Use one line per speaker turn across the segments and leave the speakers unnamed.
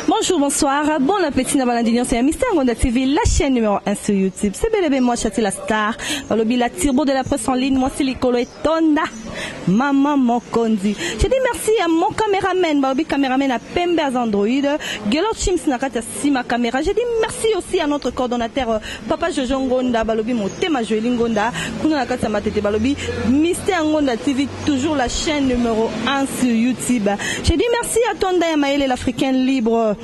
Bonjour, bonsoir, bon appétit na balandi nyonso ya Mister Ngonda TV, la chaîne numéro 1 sur YouTube. C'est bel et bien moi, Chati la star, balobi la turbo de la presse en ligne, moi c'est Likolo et Tonda, maman Mokondi. Je dis merci à mon caméraman, balobi caméraman à Pembe Android, Gelor Chims na kati ya Sima camera je dis merci aussi à notre coordonnateur papa Jojo Ngonda balobi motema Joeli Ngonda kuna na kati ya matete balobi Mister Ngonda TV toujours la chaîne numéro 1 sur YouTube je dis merci à toi Ndaya Mayele l'africaine libre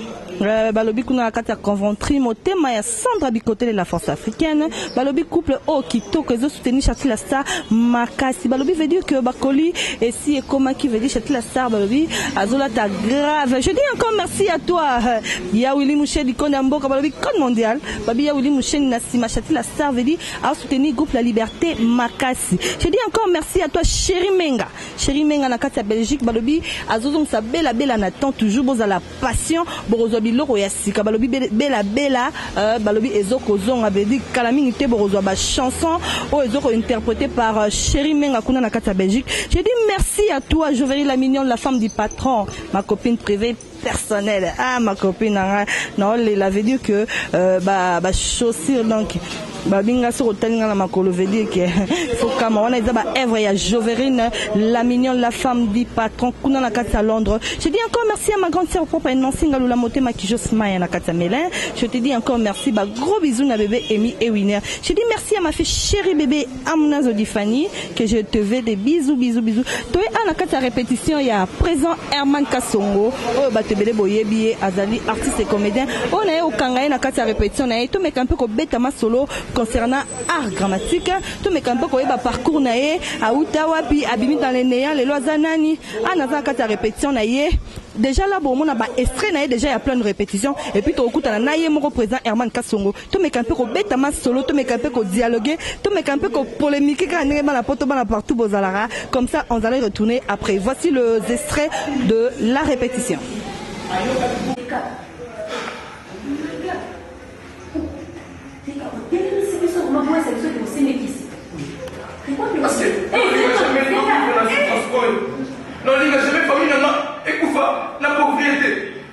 Euh, balobi kuna na kati ya conventry motema ya sandra bikotele la force africaine Balobi couple oyo kitoko ezo soutenir Shatila Star makasi. Balobi veut dire que bakoli esi ekomaki veut dire Shatila Star balobi azolata grave. Je dis encore merci à toi euh, ya Willy Mushedi konde ya mboka balobi code mondial. Babi ya Willy Mushedi na sima Shatila Star veut dire a soutenir groupe La Liberté makasi. Je dis encore merci à toi Chéri Menga. Chéri Menga na kati ya Belgique balobi azozongisa bela bela na temps toujours bozala passion bokozwa biloko ya sika balobi bela bela euh, balobi ezokozonga vedi kala mingi te bokozwa ba chanson oyo ezoko interprété par euh, chéri menga kuna na kati ya belgique j'ai dit merci à toi joveri la mignonne la femme du patron ma copine privée personnelle ah ma copine nanga naolela veut dire que euh, ba, ba chaussure donc babi nga soki otali nga na makolo veut dire que fokama wana eza ba œuvre ya joverine la mignonne la femme du patron kuna na kati ya londres je dis encore merci à ma grande sœur propre nancy ngalula motema kijo smaya na kati ya melin je te dis encore merci ba gros bisous na bebe emi ewiner je dis merci à ma fille chérie bebe amnazo difani que je te veux des bisous bisous bisous toye a na kati ya répétition ya présent Herman Kasongo oyo bato ebele boyebi ye azali artiste et comédien oyo na ye okanga ye na kati ya répétition na ye tomeka mpe kobeta masolo concernant art dramatique tomeka mpe koyeba parcours na ye awuta wapi abimi dans le néant lelo aza nani a naza na kati ya répétition na ye déjà là bomona ba extrait na ye déjà ya plein de répétition et puis tokokutana na ye moko présent Herman Kasongo Tomeka mpe kobeta masolo, tomeka mpe ko dialoguer, tomeka mpe ko polemiquer kaka ndenge bana poto bana partout bozalaka comme ça on allait retourner après. Voici le extrait de la répétition.
Parce que, eh, eh, eh, non, il n'a jamais famille, non, non, et Koufa, la pauvreté.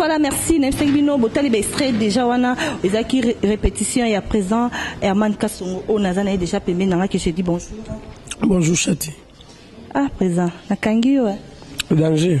voilà merci nayebisangi bino botali baextrait déjà wana ezalaki répétition ya présent herman kasongo oyo naza na ye déjà pembeni nanga ke je dis bonjour bonjour
chati ah
présent nakangi yo danger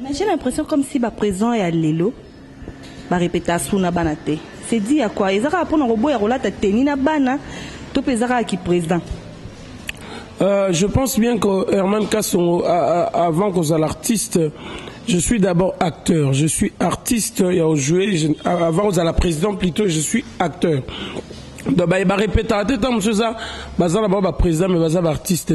Mais j'ai l'impression comme
si ba présent ya lelo ba repeta asu na bana te. C'est dit à quoi? Eza kaka pona koboya kolata tenue na bana to pe eza kaka ki président? Euh,
je pense bien que Herman Kassongo, avant qu'on soit l'artiste, je suis d'abord acteur. Je suis artiste, il y a joué, je, avant qu'on soit la présidente plutôt, je suis acteur. Donc, bah, il va répéter à tout temps, monsieur ça, bah, ça, bah, président, mais bah, ça, artiste,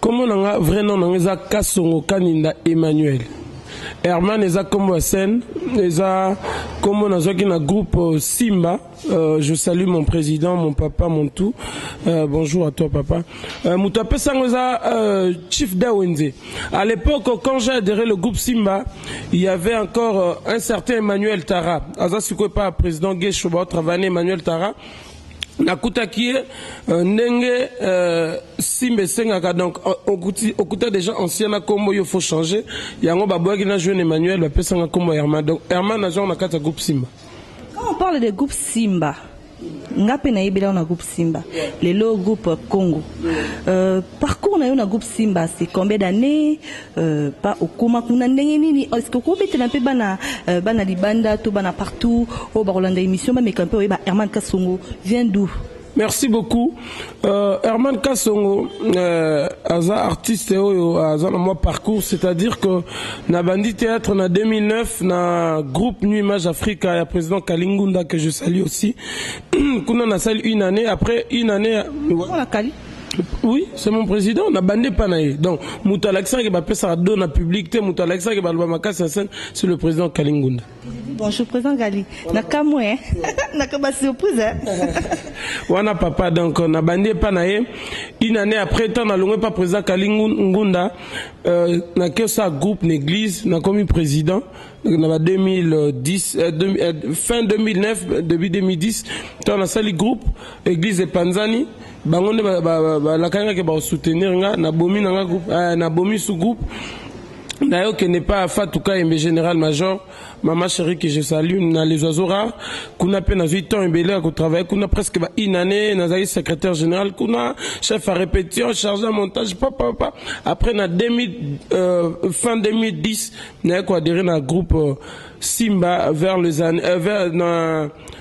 Kombo na nga vrai nom na nga eza Kasongo Kaninda Emmanuel. Herman eza kombo ya scène, eza kombo nazwaki na groupe euh, Simba. Euh, je salue mon président, mon papa, mon tout. Euh, bonjour à toi papa. Euh, moto apesa yango eza euh, Chief Dawenze. À l'époque quand j'ai adhéré le groupe Simba, il y avait encore euh, un certain Emmanuel Tara. Aza sikoyo pa président Gesho ba travailler Emmanuel Tara. nakutaki ye euh, ndenge euh, simba esengaka donc euh, okuta déjà ancien na kombo yo faut changer yango baboyaki na jeune emmanuel bapesanga kombo ya herman donc herman nazwango na kati ya groupe simba quand on parle
de groupe simba nga mpe nayebeli yango na groupe simba lelo groupe congo euh, parcours na yo na groupe simba c'est combien d'année Euh, pa okoma kuna ndenge nini est ce que okobetela mpe bana euh, bana libanda to bana partout oyo bakolanda émission bameka mpe oyeba herman kasongo vient d'où merci beaucoup
euh, herman kasongo euh, aza artiste oyo aza na mwa parcours c'est à dire que na bandi théâtre na 2009 na groupe nu image africa ya président kalingunda que je salue aussi kuna nasali une année après une année Oui, c'est mon président, na bande pas naï. Donc, mutu alakisa ke ba pesa do na public te, mutu alakisa ke ba loba makasi na scène, c'est le président Kalingunda. Bonjour président
Gali. Na kamwe, hein. na ka ba surprise. Hein.
Wana papa donc na bande pas naï. Une année après tant na longwe pas président Kalingunda euh, na que ça groupe l'église, na commis président na ba 2010 euh, de, euh, fin 2009 début 2010 tant na sali groupe église de Panzani bango nde balakaki ke bakosoutenir nga nabomi na nga groupe eh, nabomi sous groupe naye okende epai ya fatu kayembe général major mama chéri que je salue na les oiseaux rares kuna mpe nazwi temps ebele ya kotravaille kuna presque ba une année nazalaki secrétaire général kuna chef à répétition charge ya montage papapapa après na 2000, euh, fin 2010 naye koadere na groupe euh, simba vers les années euh, vers, na,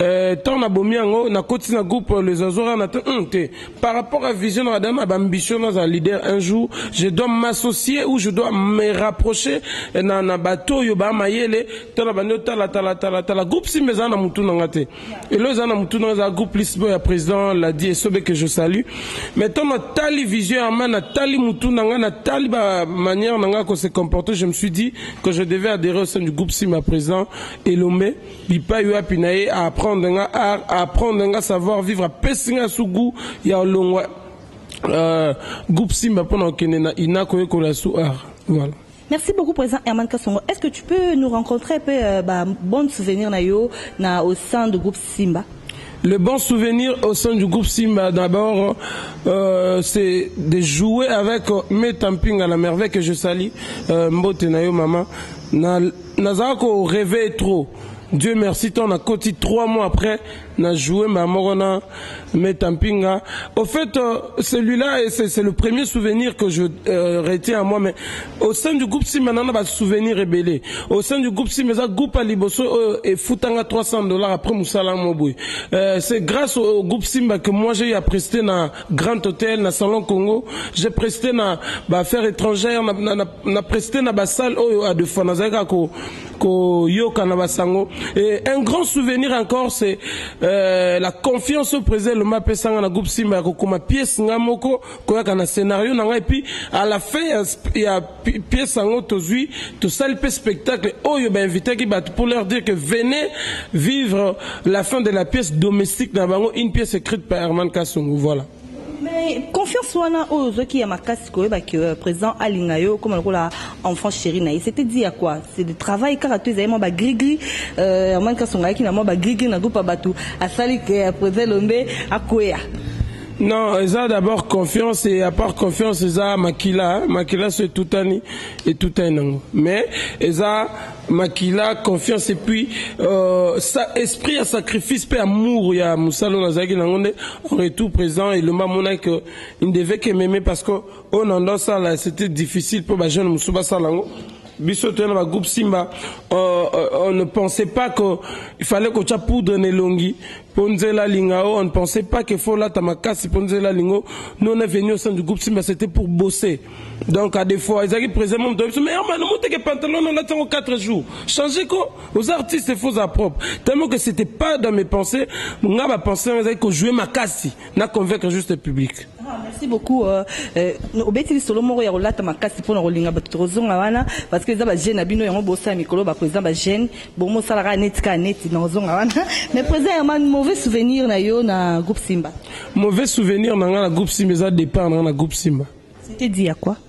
Euh, tant na bomi yango na koti na groupe euh, les azora na hum, te par rapport à vision na dana ba ambition na za leader un jour je dois m'associer ou je dois me rapprocher euh, na na bato yo ba mayele tant na bande tala tala tala tala groupe si mais na mutu na ngate et le za na mutu na za groupe plus boy président l'a dit et sobe que je salue mais tant na tali vision ya mana tali mutu na ngana tali ba manière na ngako se comporter je me suis dit que je devais adhérer au sein du groupe si ma président Elombe Bipayi wapi na ye a apprendre nga art, a apprendre nga savoir vivre, apesi nga su gout ya olongwa euh, groupe Simba mpo na kokende na INA koyekola su art. Voilà. Merci beaucoup président Herman Kasongo. Est-ce que tu peux nous rencontrer un peu euh, ba bonnes souvenirs na yo na au sein du groupe Simba? Le bon
souvenir au sein du groupe Simba, d'abord, euh, c'est de jouer avec euh, Metamping à la merveille que je salis, euh, Mbote Nayo Mama, na Nazalaka ko rever trop. Dieu merci tant na koti trois mois après na jouer mbala moko na Meta Mpinga. Au fait, euh, celui-là, c'est le premier souvenir que je euh, retiens à moi, mais au sein du groupe Simba, nana ba souvenir ebele. Au sein du groupe Simba, ça groupe à liboso euh, et foutanga 300 dollars après Moussala Moboy. Euh, c'est grâce au, au groupe Simba que moi j'ai eu à prester na Grand hotel na salon congo je preste na ba affaire etrangère na, na, na, na preste na basale oyo a de fois nazali kaka ko, koyoka na basango et un grand souvenir encore c'est euh, la confiance au président loma apesanga na groupe simba ya kokoma pièce nga moko koyaka na scénario na ngai epuis à la fin ya, ya pièce yango tozui tosali pe spectacle oyo ba invitaki bato pour leur dire que venez vivre la fin de la pièce domestique na bango une pièce écrite par Herman Kasongo voilà mais
confiance wana oyo ozwaki ya makasi koyeba que euh, président alinga yo okoma lokola enfant chéri na ye c'était dit ya quoi c'est de travail kaka to ezali mwa bagrigri euh, herman kasongo ayaki na mwa bagrigri na groupe ya bato asali que euh, président lombe akweya Non,
eza d'abord confiance et à part confiance eza makila, hein. makila so etutani etutani nango. Mais eza makila, confiance et puis euh, sa, esprit ya sacrifice pe amour ya musala oyo nazalaki nango nde en retour président elomba amonaki que il ne devait que m'aimer parce que oyo nando asala c'était difficile po ba jeunes mosusu basala yango Biso toya na ba groupe Simba uh, on ne pensait pas que il fallait kotia poudre na elongi mpo nzela alinga o on ne pensait pas que faut lata makasi mpo nzela alingo nous on est venu au sein du groupe Simba c'était pour bosser donc à des fois ezalaki président mo moto biso mais hermano moteke pantalon olati yango 4 jours changer ko aux artistes faut za propre tellement que c'était pas dans mes pensées nga ba pensées yango ezalaki kojouer makasi na convaincre juste public ah, merci beaucoup
euh, euh, obeti lisolo moko ya kolata makasi mpona kolinga bato tokozonga wana parce que eza bagene na bino yango bosala mikolo baprésident bagene bongo osala kaka neti kaka neti na kozonga wana mais président herman mauvais souvenir na yo na groupe simba mauvais souvenir
na ngai na groupe simba eza départ na ngai na groupe simba c'était dit ya quoi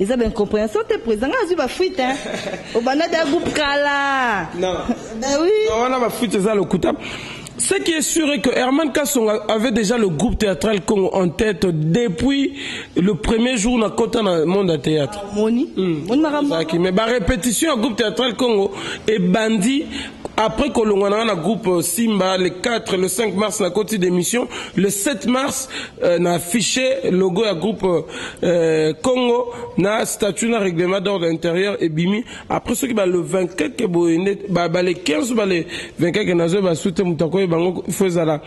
Eza ba incomprehension te president nga azwi ba fuite hein. Obanda da groupe kala. Non. Bah oui. Non, wana ba fuite eza
lokuta. Ce qui est sûr est que Herman Kassonga avait déjà le groupe théâtral Congo en tête depuis le premier jour na kota na monde à théâtre. Ah, moni. Mm. Moni
makambo. Mais
ba répétition groupe théâtral Congo et bandi après kolongwana na groupe euh, Simba le 4 le 5 mars na koti d'émission le 7 mars euh, na affiché logo ya groupe euh, Euh, Congo na statut na règlement d'ordre intérieur ebimi après soki ba le 24 ke boye nde ba, ba le 15 ba le 24 ke nazo ba sute moto akoye bango faut ezala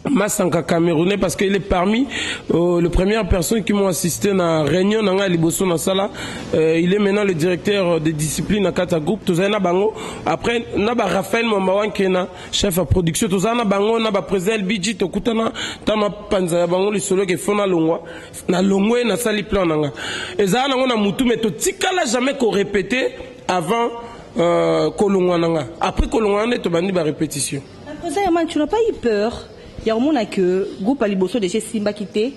Massanka Camerounais parce qu'il est parmi euh, les premières personnes qui m'ont assisté à la réunion dans Liboso dans sala. Euh, il est maintenant le directeur de discipline à Kata Group. Tout ça, bango. Après, naba Raphaël Mambawan Kena. chef ya production tozala na bango na bapresident lbg tokutana ntango na panza ya bango lisolo eke fo nalongwa nalongwe nasali plan na nga ezala nango na motu me totikala jamais korepete avant euh, kolongwa na nga après kolongwa na nde tobandi barepetition Après ça, Yaman, tu n'as
pas eu peur ya komona que groupe ya liboso deja esimbaki te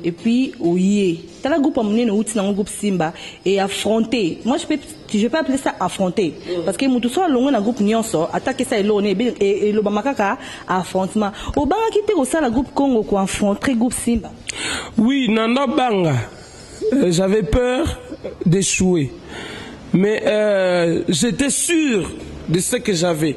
et puis oye tala groupe ya monene outi nango groupe simba et affronte moi je peux, je peux appeler ça affronte parce que moto so alongwe na groupe nyonso ata kesa eloko ne elobama kaka affrontement obangaki te kosala groupe congo ko affronte groupe simba oui nanda
banga Euh, j'avais peur d'échouer. Mais euh, j'étais sûr de ce que j'avais.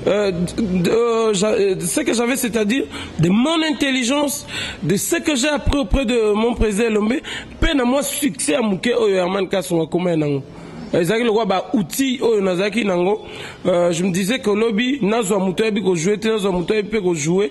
Euh, euh, euh, ce que j'avais, c'est-à-dire de mon intelligence, de ce que j'ai appris auprès de mon président Lombe, peine à moi succès à Mouké Oyo Herman Kassonga Koma Nango. ezalaki lokola baoutil oyo nazalaki nango euh, je me disais que lobi nazwa moto ayebi kojoue te nazwa moto ayebi mpe kojoue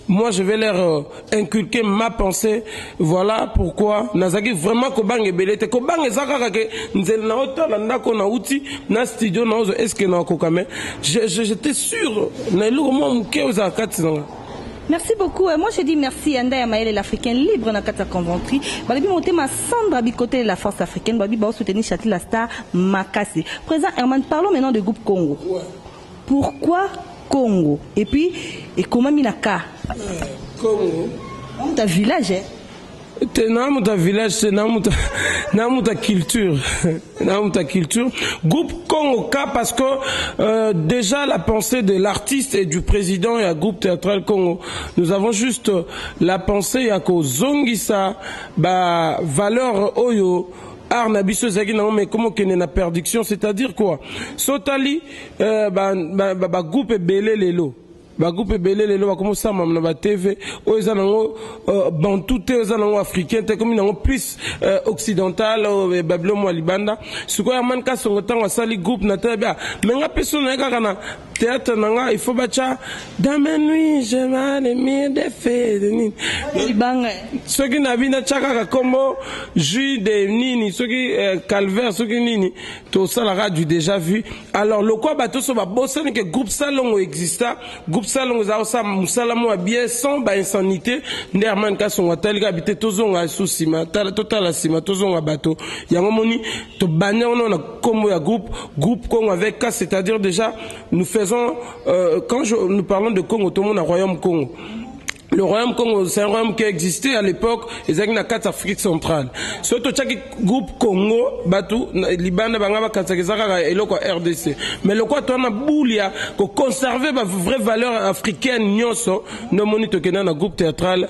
moi je vais leur euh, inculquer ma pensée voilà pourquoi nazalaki vraiment kobanga ebele te kobanga eza kaka ke nzela na otala ndako na uti na studio na ozo eske na okoka mais j'étais sûr na eloko mwa moke ozala kati na nga Merci beaucoup.
Et moi, je dis merci à Ndaya Maël, l'Africain libre dans Kata Conventry. Balabi Montema, Sandra Bicoté, la force africaine. Balabi Bao soutenir Châtelet, la star Makasi. Présent Herman, parlons maintenant de groupe Congo. Ouais. Pourquoi Congo et puis
ekomami
na ka. Congo. Namu ta village eh. Te namu
ta village te namu ta namu ta culture namu ta culture groupe Congo K parce que euh, déjà la pensée de l'artiste et du président et à groupe théâtral Congo nous avons juste la pensée ya ko zongisa ba valeur oyo art na biso ezalaki nango mais komo kende na perduction c'est à dire quoi so tali euh, ba, ba, ba, ba groupe ebele lelo bagroupe ebele lelo bakomi osalama na batv oyo eza nango euh, bantu te oyo eza nango africain te ekomi nango plus euh, occidental oyo euh, babilo mwa libanda sikoyo amani kasongo ntango asali groupe na tele bia me nga mpe so naye kaka na theatre na nga il faut bacha dans mes nuits je male mire de fe de nini libanga
soki na
bina cha kaka kombo jus de nini soki euh, calvaire soki nini to sala ka du déjà vu alors lokwa bato so ba bosani que groupe salongo exista groupe salongo za sa musala mo bien sans ba insanité nde Armand Kasongo atali ka bite tozonga sous sima tala totala sima tozonga bato yango moni To banner on a combo ya groupe, groupe Congo avec K, c'est-à-dire déjà, nous faisons, euh, quand je, nous parlons de Congo, tout le monde a royaume Congo. Le royaume Congo, c'est un royaume qui existait à l'époque, et c'est na quatre Afrique centrale. Surtout chaque groupe Congo, Batou, Libanda, Bangaba, Katsakizaka, et le quoi RDC. Mais le quoi, toi, na boulia, pour conserver ma vraie valeur africaine, nyoso, no monito kena na groupe théâtral,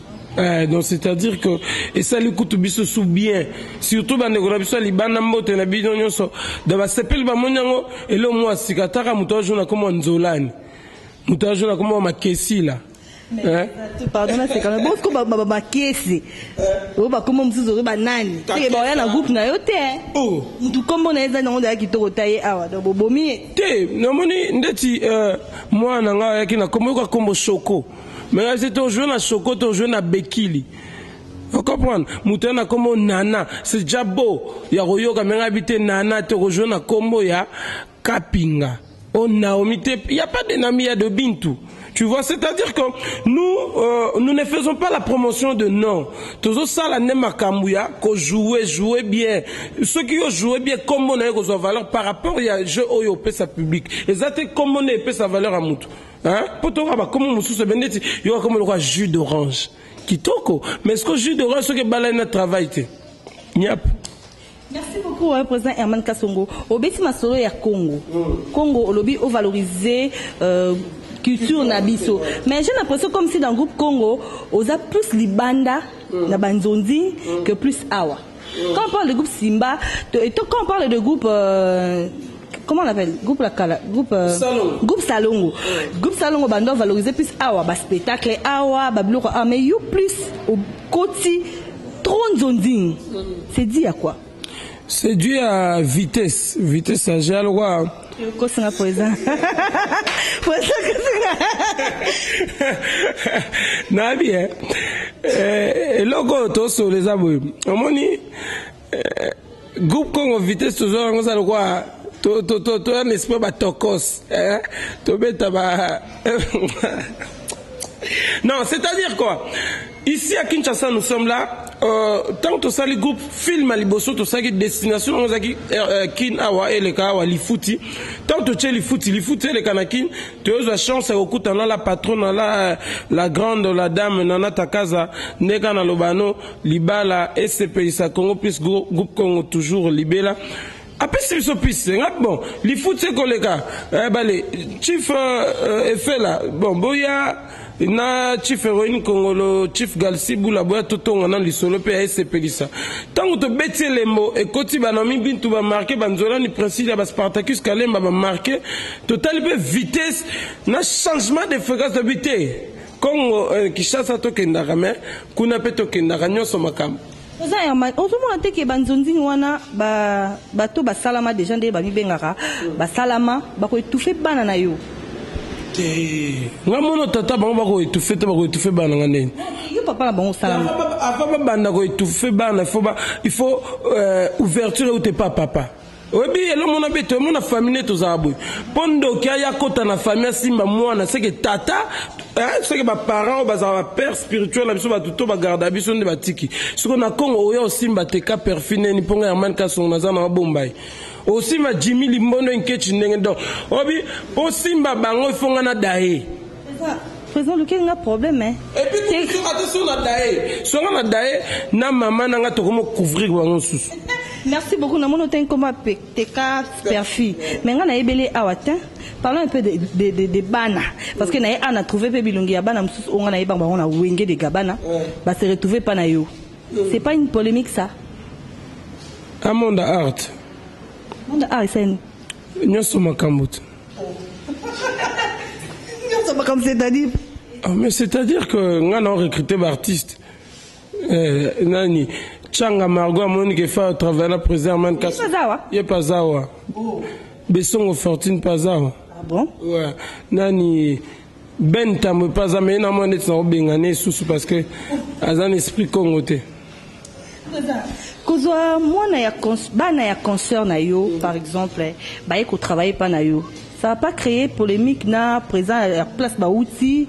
Eh, donc c'est-à-dire que esali kutu biso su bien surtout bandeko na biso ya libanda mbote na bino nyonso da basepeli bamoni yango eloo mwa sika ataka moto ajo na komo ya nzolani moto ajo na komo ya makesila eh?
pardon naseka na bosiko bamakesi oyo bakoma mosusu oyo banani seke baoya na groupe na yo te eh? oh. motu nkombo na ye ezali nango ndaya kitoko ta ye awa donc bobomi ye te namoni
ndeti eh, mwana na ngai ayaki na nkombo yoka nkombo shoko mais asi to joue na choco to joue na bekili okomprendre moto na nkombo nana c'est déjà beau ya koyoka me ngai bite nana te okozwa na nkombo ya kapinga o oh, naomi te ya pas de nami ya de bintu Tu vois, c'est-à-dire que nous, euh, nous ne faisons pas la promotion de non. Tozo sala ne makambuya, ko jouer, jouer bien. Ceux qui ont joué bien, comme on a eu valeur par rapport à jeu oyo pesa public. Et ça, comme on a sa valeur à moutou. Hein? Mpo toyoka bakomo mosusu ebe ndeti yoka komo lokola jus d'orange kitoko mais siko jus d'orange soki ebalani na travail te niap Merci
beaucoup, hein, président Herman Kassongo. Obeti masolo ya Congo. Mm. Congo, olobi, au valoriser euh, culture na biso. Mais j'ai l'impression comme si dans le groupe Congo, oza plus libanda mm. na banzondi mm. que plus awa. Quand on parle de groupe Simba, et quand on parle de groupe euh, comment on appelle groupe la kala groupe euh, salongo. groupe salongo groupe salongo bando valoriser plus awa ba spectacle awa ba biloko awa mais you plus au koti trop nzonzing c'est dit à quoi c'est dû
à vitesse vitesse ya lokola Okosi nga poeza. Poeza okosi nga. Nabi eh. eh eloko oyo tosolo eza boye. Omoni eh, groupe Congo Vitesse tozo yango za lokola to to to to un esprit ba tokos eh tobeta ba Non, c'est-à-dire quoi Ici à Kinshasa nous sommes là euh, ntango tosali groupe film ya liboso tosalaki destination yango ezalaki euh, euh, kin awa eleka awa lifuti ntango totie lifuti lifuti eleka na kin toyozwa chance ya kokutana la patrona la, euh, la grande la dame nana takaza nde kaka naloba no libala esepelisa congo plus groupe congo toujours libela Apesi biso piste nga bon lifuti ekoleka eh, bale chief uh, efela bon boya na chief heroine kongolo chief galsi bula boya totonga na lisolo mpe ya esepelisa ntango tobeti elembo ekoti banaomi bintu bamarke banzolani princile ya baspartacus kalemba bamarke totali mpe vitesse na changement de fréquence tobi te congo eh, kinshasa tokendaka me kuna mpe tokendaka nyonso makambo Oza Herman,
ozomona te ke banzonzing wana ba bato basalama deja nde bamibengaka basalama bako etufe bana na yo te nga
mono tata bango bako etufe te bako etufe bana nga ndeni yo papa na bango
salama avant babanda ko
etufe bana il faut ba il faut euh, ouverture eute pa papa Oyebi elo mona be to mona famille to za boye. Po ndoki aya kota na famille simba mwana seke tata hein seke ba parents ba za ba père spirituel na biso ba to ba garda biso nde batiki. Siko na Congo oya osimba te ka perfi neni po nga Herman Kasongo na za na mabomba ye. Osimba Jimmy Limbondo Nketshi ndenge donc obi osimba bango il faut nga na daye. President
lukeli nga problème hein. Et puis tu soka te
sur la dae. Songa na dae na maman na nga tokomo couvrir bango susu. Merci beaucoup na
mono ten koma teka perfi. Mais nga na ebele awa te. Parlons un peu de, de, de, de bana parce que na ye ana trouver pe bilongi ya bana mususu onga na ye bango na wenge de gabana ba se retrouver pa na yo. Mm. C'est pas une polémique ça.
Amanda Art. Amanda
Art c'est une. Nyoso
makambo.
Ah, mais c'est-à-dire
que nga na recruter ba artistes euh, nani Changa Margot amoni ke fa travailler na président man kas ye pazawa oh. Besongo Fortune pazawa ah bon ouais
nani
Ben tambwe pe aza mais namona neti na kobengana ye susu parce que aza na esprit congo te kozwa
mwana ya bana ya concert na yo par exemple baye kotravaille mpa na yo ça va pas créer polémique na présent ya place bauti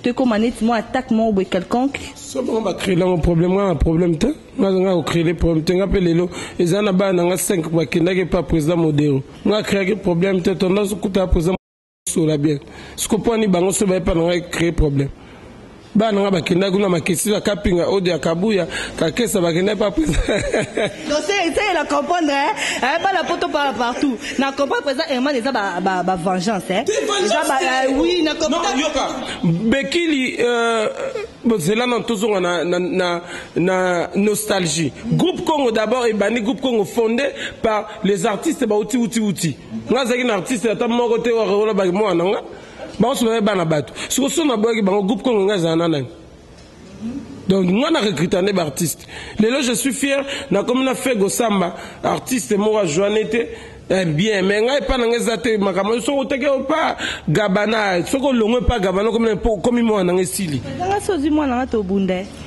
to ekoma neti mwa attaque moko boye quelconque so bango bacréele
yango problème ngai na problème te ngai kocréele problème te ngai mpe lelo eza na bana na ngai 5 bakendaki epa président modero ngai akréaki problème te tondasukuta président sola bien siko mpo ani bango so baye mpa na ngai créer problème bana na ngai bakendaki kuna makesi na kapinga ode ya kabuya kakesa bakendaki mpa presa
seke na comprendre eh, bana poto pa partout na comprendre presa herman eza bavengeance eh. eza eh, oui na comprendre
bekili euh, bozela na tozonga na, na, na, na nostalgie groupe congo d'abord ebandi groupe congo fondé par les artistes bauti uti uti nga azalaki na artiste ata moko te oyo baki mwana na nga banso baye bana bato siko so naboyaki bango groupe kongo nga ezala na nani donc nga na recruta nde baartiste lelo je suis fier nakomi na fego samba artiste moko ajoine te Eh bien me ngai epai na ngai eza te makambo soki oteki opa gabana soki olongwe epa gabana okomi mwana na ngai esili soki ozwi mwana na
ngai tobunda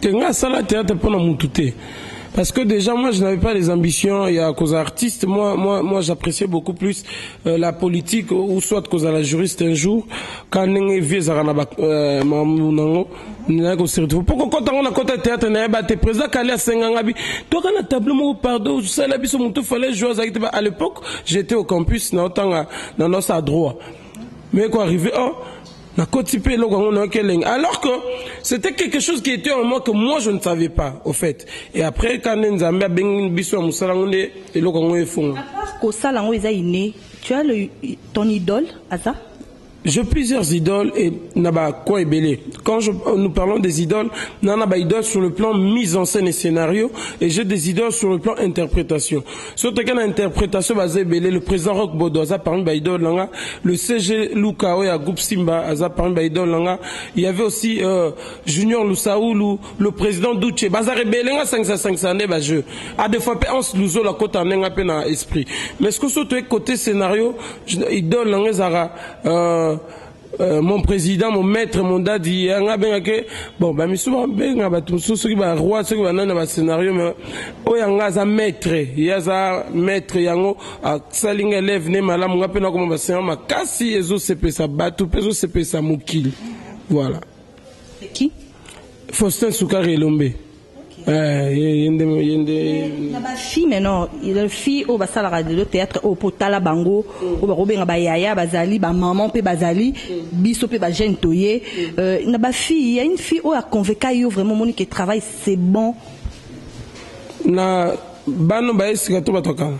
te nga sala
théâtre pona mutu te parce que déjà moi je n'avais pas les ambitions ya cause artiste moi moi moi j'appréciais beaucoup plus euh, la politique ou soit cause la juriste un jour quand ndenge vie ezaka na ba euh, mamu nango na ko se retrouver poko kota ngona kota théâtre na ba te président kali asenga ngabi to kana tableau moko pardon sala biso mutu fallait jouer zakite ba à l'époque j'étais au campus na otanga na nosa droit mais quoi arrivé oh Nakoti pe eloko yango nayoki elengi alors que c'était quelque chose qui était en moi que moi je ne savais pas au fait et après quand nde Nzambe abengi biso ya musala yango nde eloko yango efonga.
Kosala yango eza inne tu as le, ton idole aza J'ai plusieurs
idoles et naba quoi ebele. Quand je, euh, nous parlons des idoles, nana ba idoles sur le plan mise en scène et scénario et j'ai des idoles sur le plan interprétation. Soki toke na interpretation baza ebele, le president Rock Bodo aza parmi ba idole na nga, le CG Luka oyo ya groupe Simba aza parmi ba idole na nga, il y avait aussi euh, Junior Lusaulu, le president Duce, bazaka ebele nga sangisa sangisa nde ba jeux. A des fois pe Hans Luzola kota nde nga pe na esprit. Mais ce que soki toye côté scénario, idole na nga ezaka euh, Euh, mon président mon maître mon dadi yanga eh, abenga ke bon bamisu babenga bato mosusu soki baroi soki banani na bascenario ma oyo yanga aza maître ye aza maître yango asali nga élève ne malamu nga mpe nakoma bascena makasi ezosepesa bato mpe ezosepesa mokili voilà
faustin
sukari elombe Eh, ye nde ye nde na ba
fille mais non le fille oyo basalaka lelo théâtre oyo mpo tala bango oyo bakobenga bayaya bazali bamaman mpe bazali biso mpe bajeune toye euh, na ba fille ya une fille oyo aconveka yo vraiment omoni ke travail c'est bon
na bano baye sika to bato ya kala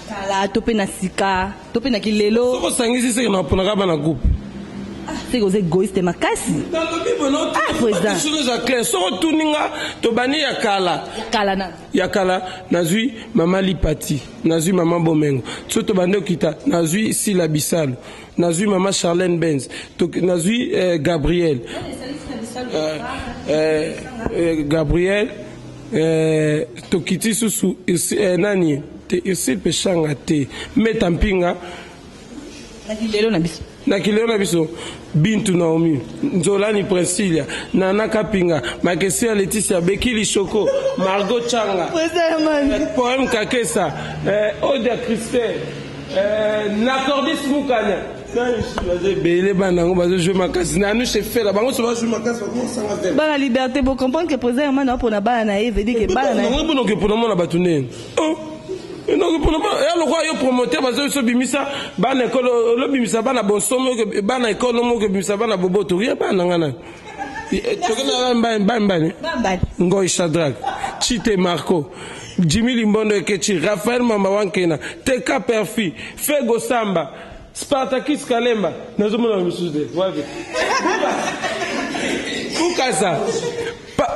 kala
to mpe na sika to mpe na kilelo soko osangisi seke na
oponaka bana groupe ah, seke oza
egoiste makasi
ah, eza clair soko otuni nga tobandi ya kala ya kala nazwi mama lipati nazwi mama bomengo so tobandi okita nazwi sila bisalu nazwi mama charlene benz nazwi eh, gabriel eh, eh, eh, gabriel Eh, tokiti susu eh, nani te ese peshanga te meta mpinga na kilelo na biso na kilelo na biso bintu naomi nzolani princilia nana kapinga makesia leticia bekili shoko margo changa eh, poeme kakesa eh, odia christel eh, nacordis mukanya ebele bana yango bazozwi makasi na anushe
fela bango so bazwi makasi bakosanga te bana liberté bocomprendre ke président hermane apona bana na ye vedike bana nayango mpona oke mpona mona bato nde
enoki mpona ya lokola yo promoteur bazoki so bimisa bana ekole olobimisa bana bonsomi bana ekole omoki obimisa bana boboto rie bana na ngai nani toke na mbani mbani mbani ngoi shadrake chite marco jimi limbondo ekechi rafael mamba wankena teka perfi fego samba Spartacus Kalemba nazo mona yo lisusu te wapi Bukasa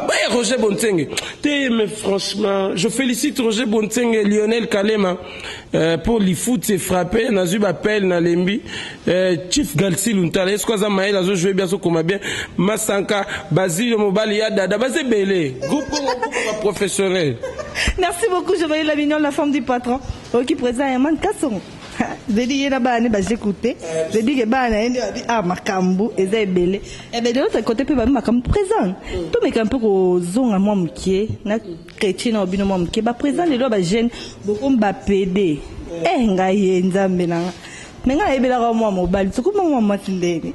Baya Roger Bontsenge te mais franchement je félicite Roger Bontsenge Lionel Kalema euh, pour lifuti et frappé nazwi bapel na lembi euh, Chief Galsi Luntala esko aza mayele azo jouer bien azokoma bien Masanka Bazilio mobali ya dada baza ebele groupe Congo groupe ba professionnel Merci
beaucoup Jovenel Labignol la femme du patron oyoki président Herman Kasongo Baby ye na bana ne baze coute baby ke bana ye nde babi ah makambu eza ebele eh ben de l'autre côté pe babi makambu présent mm. to meka mpe kozonga mwa mokie na chrétien na obino mwa mokie ba présent lelo ba jeune bokomi ba pede mm. eh ngai ye nzambe na nga me ngai nayebelaka mwa mobali sokomi mwa mwasi ndeni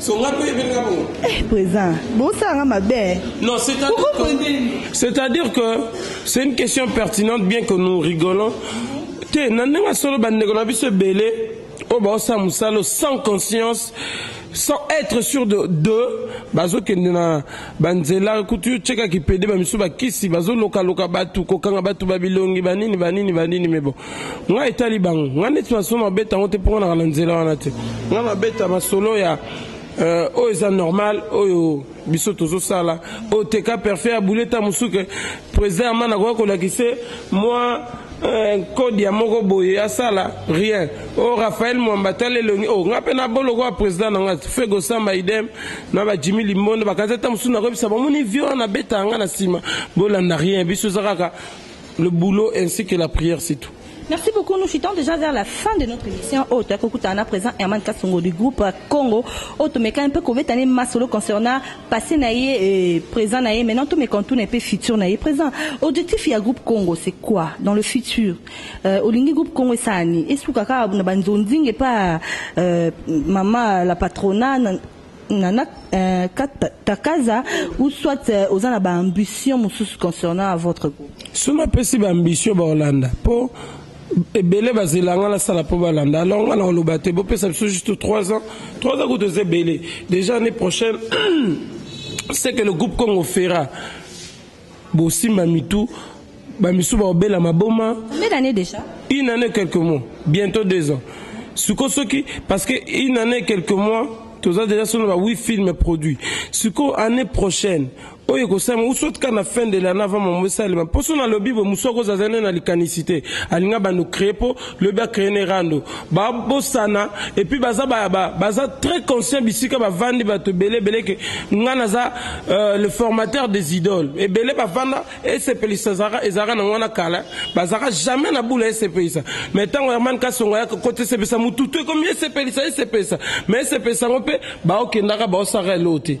songa mpe ebelela
bongo eh, présent bosala nga mabe non
c'est-à-dire que c'est une question pertinente bien que nous rigolons te na ndenge solo bandeko na biso ebele oyo baosala mosala sans conscience sans être sûr de, de bazokende na ba nzela kutu yo cheka ki pede ba misu ba kisi bazo loka loka batu kokanga batu ba bilongi ba nini ba nini ba nini mais bon nga etali bango nga neti maso ma beta ngote poko na kala nzela wana te nga ma beta masolo ya euh, oyo oh, eza normal oyo oh, biso tozosala oyo oh, teka perfet ya boule ta mosusu ke président ya mana akoya kolakisa mwa euh, kode ya moko boye asala rien o raphael mwamba tala elongi o nga mpe na boloko ya président na nga fegosamba idem na ba Jimmy Limbondo bakazi ata mosusu nakoyebisa bamoni vie wana nabeta yanga na nsima bolanda rien biso eza kaka le boulot ainsi que la prière c'est tout Merci beaucoup. Nous chutons
déjà vers la fin de notre émission. Oh, tu as présent Herman Kassongo du groupe Congo. Oh, tu un peu couvert année masolo concernant passé naïe et présent naïe. Maintenant, tu me contournes un peu futur naïe présent. Objectif, il y a groupe Congo, c'est quoi dans le futur? Euh, Olingi groupe Congo et Sani. Est-ce que kaka na banzonding et pas euh, maman la patrona nana euh, takaza ou soit euh, oza na ba ambition mosusu concernant à votre groupe soki napesi ba
ambition baolanda mpo ebele bazela nga nasala mpo balanda alors nga nakoloba te bopesa biso juste 3 ans 3 ans kutu eza ebele déjà année prochaine ce que le groupe congo fera Bosimba mitu, ba misusu bakobela maboma. Combien d'annees dejà?
Une année quelques
mois, bientôt deux ans. Siko soki parce que une année quelques mois toza dejà solo ba 8 films produits. Siko année prochaine oyo ekosalema ou soit kaka na fin de l'année avant maman esalema mposo nalobi boye mosusu akozala azali na likanisi te alingi abanda kocree mpo lobi akrene rando babosana epuis baza, ba, ba, baza très conscient bisika bavandi bato ebele ebele ke ngai naza euh, le formateur des idoles ebele bavanda esepelisa ezalaka nango wana kala bazalaka jamais na bula esepelisa mais ntango herman kasongo ayaka kota esepelisa motutu ekomi esepelisa esepelisa mais esepelisa yango mpe baokendaka baosaka eloo te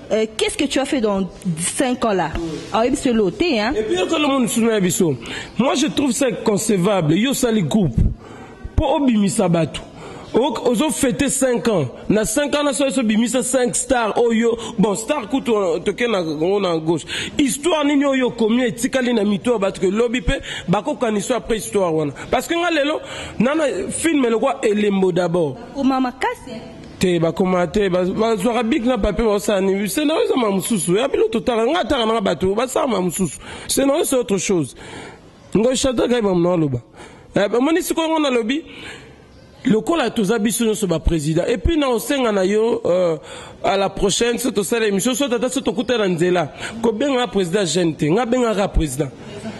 Euh, qu'est-ce que tu as fait dans 5 ans là ah, Et puis,
moi je trouve ça concevable. Yo sali groupe. Pour obimisa batu. ozo fete 5 ans na 5 ans naso eso bimisa 5 star oyo bon star kutu euh, toke na ngo na gauche histoire nini oyo okomi etikali na mito ya bato ke lobi mpe bakokanisa après histoire wana parce que nga lelo nana film elokwa elembo d'abord
te bakoma
te bazwaka bik na papier baosala nini scénario eza ma mosusu ya bino totala ngai ataka nanga bato basala ma mosusu scénario c'est autre chose ngoy shadraka ye bamona aloba eh, omoni sikoyo ngo nalobi lokola toza biso nyonso baprésident epuis na osenga na yo euh, à la prochaine so tosala émission so tata so tokuta na nzela kobengaka président jeune te nga bengaka président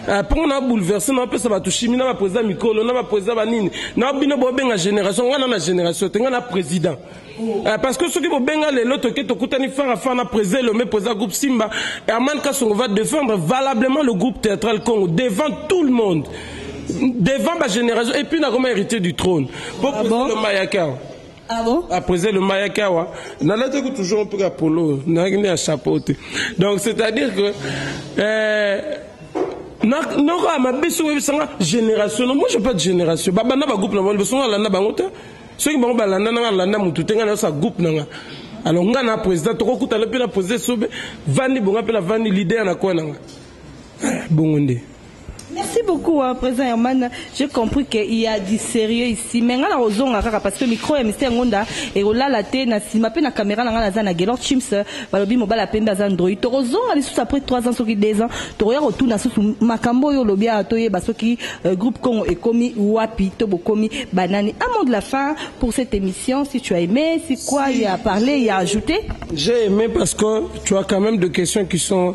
Eh, mpongo na bouleverse na bapesa bato shimi na baprezida mikolo na baprezida banini na bino bobenga génération ngai na na génération te ngai na président eh, parce que soki bobenga lelo toke tokutani fara fara na président elombe président groupe simba herman kasongo va défendre valablement le groupe théâtral congo devant tout le monde devant bagénération et puis nakoma héritier du trône mpo ah président lomba yaka Ah bon?
Après elomba ayaki
awa nalataki toujours mpe ka polo nayaki nde ya chapeau te donc c'est à dire que euh, noko ya mabe soki oyebisanga génération no moi je pas de génération babanda bagroupe na bango liboso ngo alanda bango te soki bango balanda nanga alanda motu te ngai nayosa groupe nanga alors ngai na président tokokutana mpe na président sobe vandi bonga mpe na vandi leader na koya nanga eh, bongo nde
Merci beaucoup wa president Herman. J'ai compris que il y a du sérieux ici. Mais nga na kozonga kaka parce que micro ya Mister Ngonda ekolala te na sima pe na camera na nga naza na Gaylord Chimps balobi mobala pembe aza ndroyi. Tokozonga lisusu après 3 ans soki 2 ans tokoya kotuna susu makambo oyo olobi awa toyeba soki euh, groupe Congo ekomi wapi to bokomi banani. Un mot de la fin pour cette émission si tu as aimé, si quoi il y a parlé, il y a ajouté. J'ai aimé parce
que tu as quand même des questions qui sont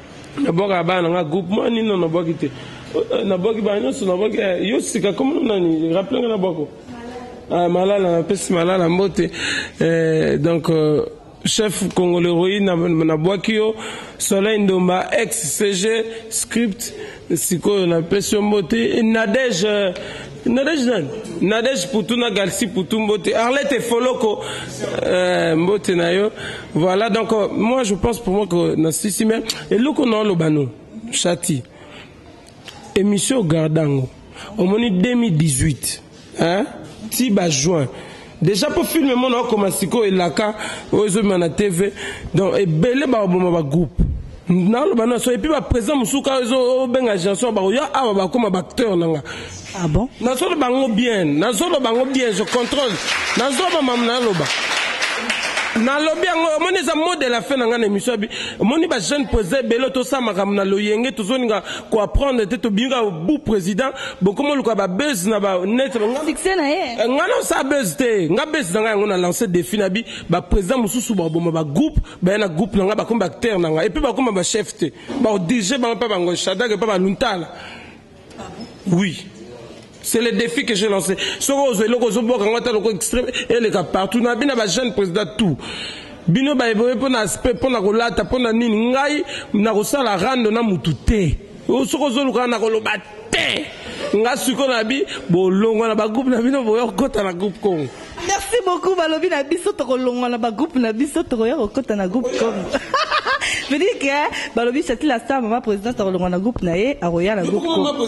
nabwaka bana na nga groupement nini na nabwaki te eh, nabwaki bana nyonso nabwaki eh, yo sika komona nani rappele nga nabwako ah, malala napesi malala mbote eh, donc euh, chef congolais royi nabwaki yo soleil ndomba ex cg script Sikoyo na pesi yo mbote Nadège Nadège nani Nadège Poutou na Galsi Poutou mbote Arlette Foloko euh, mbote na yo voilà donc euh, moi je pense pour moi que na sisi mais eloko na oloba no chati émission gardango omoni 2018 hein ti ba juin deja mpo filme mona okoma sikoyo elaka oyo ezobima na tv donc ebele bakoboma bagroupe naloba na so epuis baprésident mosusu kaka ezobenga janson bakoya awa bakoma baacteur na nga ah bon?
nazoloba yango bien
nazoloba yango bien je contrôle nazoloba mamu naloba nalobi yango omoni eza mot de la fin na ngai na émission abi omoni bajeune président ebele tosala makambo na loyenge tozolinga ko apprendre te tobimi kaka bu president bokomi oluka ba buzz na ba net na nga Succès na ye. Eh, nga
na osala buzz
te nga buzz na nga yango na lancer défi na bi ba president mosusu baboma ba groupe baya na groupe na nga bakomi ba acteur na nga et puis bakoma ba chef te ba dirige bango mpe bango shadrake mpe baluntala oui C'est le défi que j'ai lancé. Soki ozo eloko ozo boka ngata loko extrême eleka partout na bina ba jeune président tout. Bino ba eboye pona aspect pona kolata pona nini ngai na kosala rando na mutu te. Soki ozo luka na koloba te. Nga siko na bi bolongwa na ba groupe na bino boya kota na groupe Congo. Merci beaucoup
balobi na biso toko longwa na ba groupe na biso toko ya kota na groupe Congo. Vedike balobi Chatila Star maman présidente akolongwa na groupe na ye akoya na groupe Congo.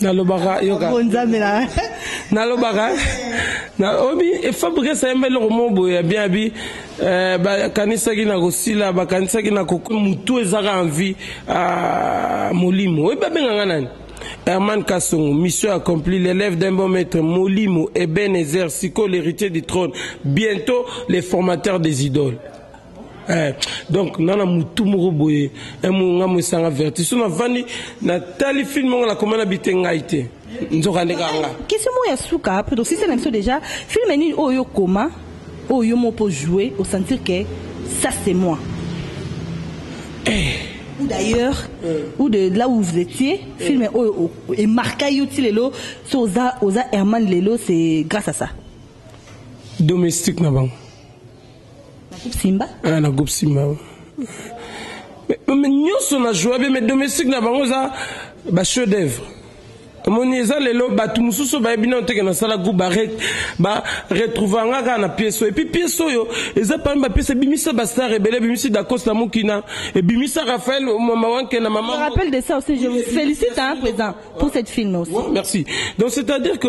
nalobaka yoka nzambe na nalobaka na obi efabrikasa yemba eloko moko boye ya bien abi eh, bakanisaki na kosila bakanisaki na kokwe motu ezaka envi ah, molimo oyebi babenga nga nani Herman Kassongo, mission accomplie, l'élève d'un bon maître, Molimo, Ebenezer, Siko, l'héritier du trône, bientôt les formateurs des idoles. Eh, donc nga na mutu moko boye eh, nga moesanga verti so navandi natali filme yango nakoma na bite ngai te nzoka nde kanga question moko ya suka
po tosisa na biso déjà filme nini oyo okoma oyo yo moko mpo joue osentir ke ça c'est moi eh. ou d'ailleurs euh. ou de là où vous étiez euh. film et oh, oh, marqua yo ti lelo so oza oza herman lelo c'est grâce à ça
domestique na bango
Na groupe
Simba? Ah, na groupe Simba. Mais nyoso na joie bien, mais domestique na bango za ba chef d'œuvre. omoni eza lelo bato mosusu bayebi nano teke nasala groupe baretrouva nga kaka na piese oyo epuis piese oyo eza parmi bapiese ebimisa bastar ebele ebimisi dakos na mokina ebimisa raphael mama wanke na mama rappel de ça aussi
je
vous
félicite hein président pour cette film aussi merci donc
c'est à dire que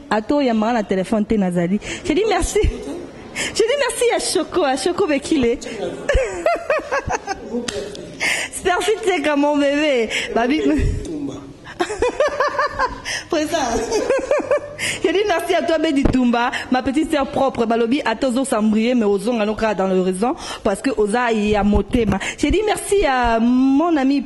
Ata oyambaka na telefone te nazali. Je dis merci. Je dis merci ya Choco, à Choco Bekile. Merci Teka mon bébé. Babi. Présent. Je dis merci à toi Bedi Tumba, ma petite sœur propre. Balobi à tozo sambrier mais ozonga no dans le raison parce que oza ya motema. Je dis merci à mon ami